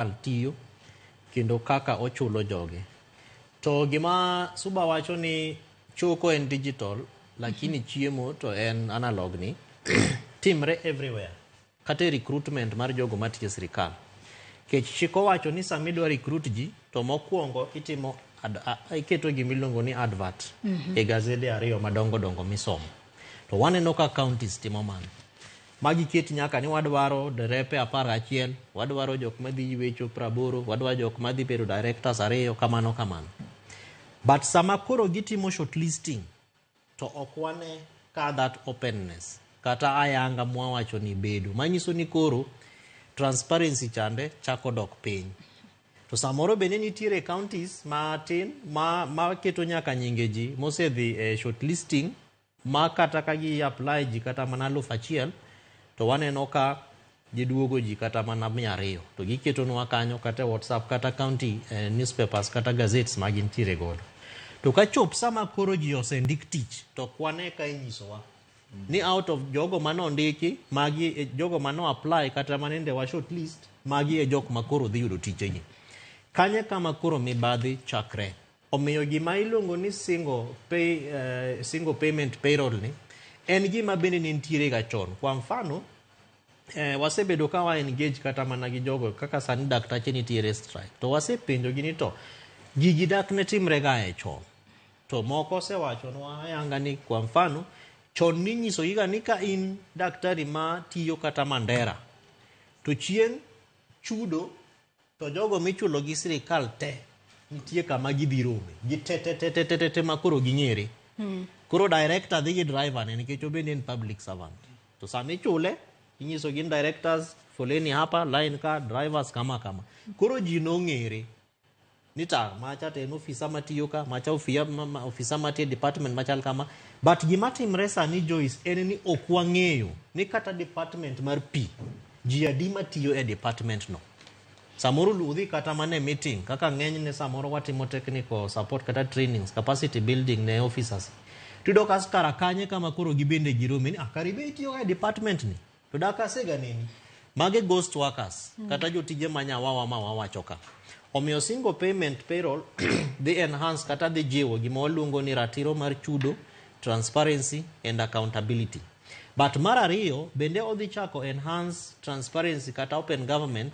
sirkal tiyo kendo kaka ochulo joge. To gima Suba wacho ni choko en digital lakini chiemo to en analog ni timre everywhere kata e recruitment mar jogo matiyo e sirkal. Kech chik owacho ni sama idwa recruit ji to mokwongo itimo ad, a, a- iketo gima iluongo ni advert e gazede ariyo madongo dongo misomo. To waneno ka counties timo mano. Magi ket nyaka ni wadwaro derepe apar gachiel, wadwaro jok madhi ywecho praboro, wadwaro jok madhi bedo directors ariyo kamano kamano. But sama koro gitimo short listing to ok wane ka that openness kata ayanga mwawacho ni bedo manyiso ni koro transparency chande chako dok piny to samoro bende nitiere counties matin ma, ma keto nyaka nyinge ji mosedhi e short listing Ma kata ka gi apply ji kata mana aluf achiel to waneno ka giduogo ji kata mana mia ariyo to giketonwa kanyo kata e WhatsApp kata county eh, newspapers kata gazettes ma gintiere godo. To ka chop sama koro ji osendik tich to ok wane ka inyisowa ni out of jogo mane ondiki magi e jogo mane apply kata manende wa short list magi e jok ma koro dhi yudo tijegi. Kanye kama koro mibadhi chakre. Omiyo gima iluongo ni single, pay, uh, single payment payroll ni en gima bende ne nitiere ga chon. Kwa mfano eh, wasebedo ka wa engage kata mana gi jogo kaka sani daktache nitiere strike to wasepenjogi ni to gigi dak ne timre ga e chon to moko osewachonwa ayanga ni kwa mfano chon ninyisogiga ni ka in daktari ma tiyo kata mandera to chieng' chudo To jogo michulo gi sirikal te nitie kama gidhi rome gitetetetetete ma koro ging'ere hmm. koro director dhi gi driver ne nikech obende en public servant to sama ichule inyiso gin directors foleni hapa line ka drivers kama kama koro ji nong'ere ni ta macha to en ofisa matiyo ka macha ofisa matiyo e department machal kama but gima timre sani joyce en ni ok wang'eyo ni kata department mar pi Ji adi matiyo e department no? Samoro ludhi kata mane meeting kaka ng'enyne samoro watimo technical support kata trainings, capacity building ne officers. Tudo kas kara kanye kama koro gibende girome ni akari ah, be itiyo e department ni. To da kasega neni. Mage ghost workers mm. kata jotije manya wawa ma wawacho ka. Omiyo single payment payroll dhi enhance kata dhi jiwo gima waluongo ni ratiro mar chudo, transparency and accountability. But mar ariyo bende odhi chako enhance transparency kata open government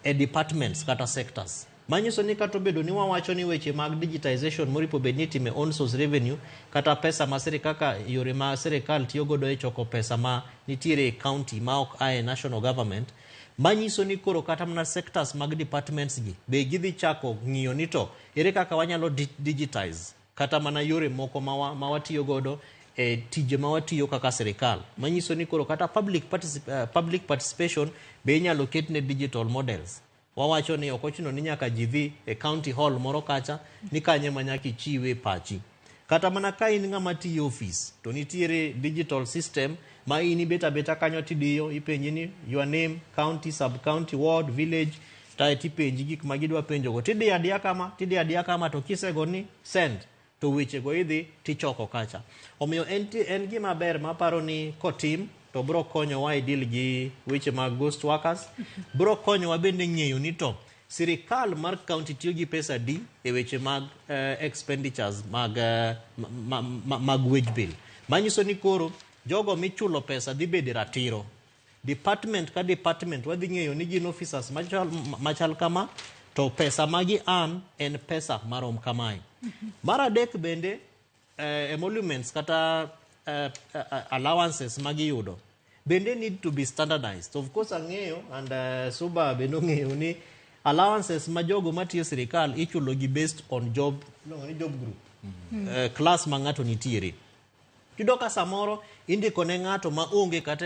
e departments kata sectors. Manyiso ni kata obedo ni wawacho ni weche mag digitization moripo bed ni itime own source revenue kata pesa ma sirikal kaka yore ma sirikal tiyo godo e choko pesa ma nitiere e county ma ok ae national government manyiso ni koro kata mana sectors mag departments gi be gidhi chako ng'iyo ni to ere kaka wanyalo di- digitize kata mana yore moko ma watiyo godo e tije ma watiyo kaka sirikal manyiso ni koro kata public, particip uh, public participation be inyalo ket ne digital models wawacho ni ok ochuno ni nyaka ji dhi e county hall moro kacha ni kanye ma nyaka ichiwe pachi kata mana ka in ng'ama tiyo ofis to nitiere digital system ma in ibeta beta kanyo tidiyo ipenji ni your name county sub county ward village kae to ipenji gik ma gidwa penjogo to idiyo adiya kama to idiyo adiya kama to kisego ni send to wechego idhi to ichoko kacha omiyo en, en gima ber maparo ni kotim to biro konyowa e deal gi weche mag ghost workers biro konyowa bende ng'eyo ni to sirikal mar county tiyo gi pesa di e weche mag eh, expenditures mag, eh, ma, ma, ma, mag wage bill manyiso ni koro jogo michulo pesa dhi bede ratiro Department ka department wadhi ng'eyo ni gin officers machal, machal kama to pesa magi an en pesa marom kamae. Mar adek bende eh, emoluments kata eh, eh, allowances magiyudo bende need to be standardized. Of course ang'eyo and eh, Suba bende ong'eyo ni allowances ma jogo matiyo sirikal ichulogi based on job, iluongo ni job group eh, class ma ng'ato nitiere. Yudo ka samoro indiko ne ng'ato ma onge kata e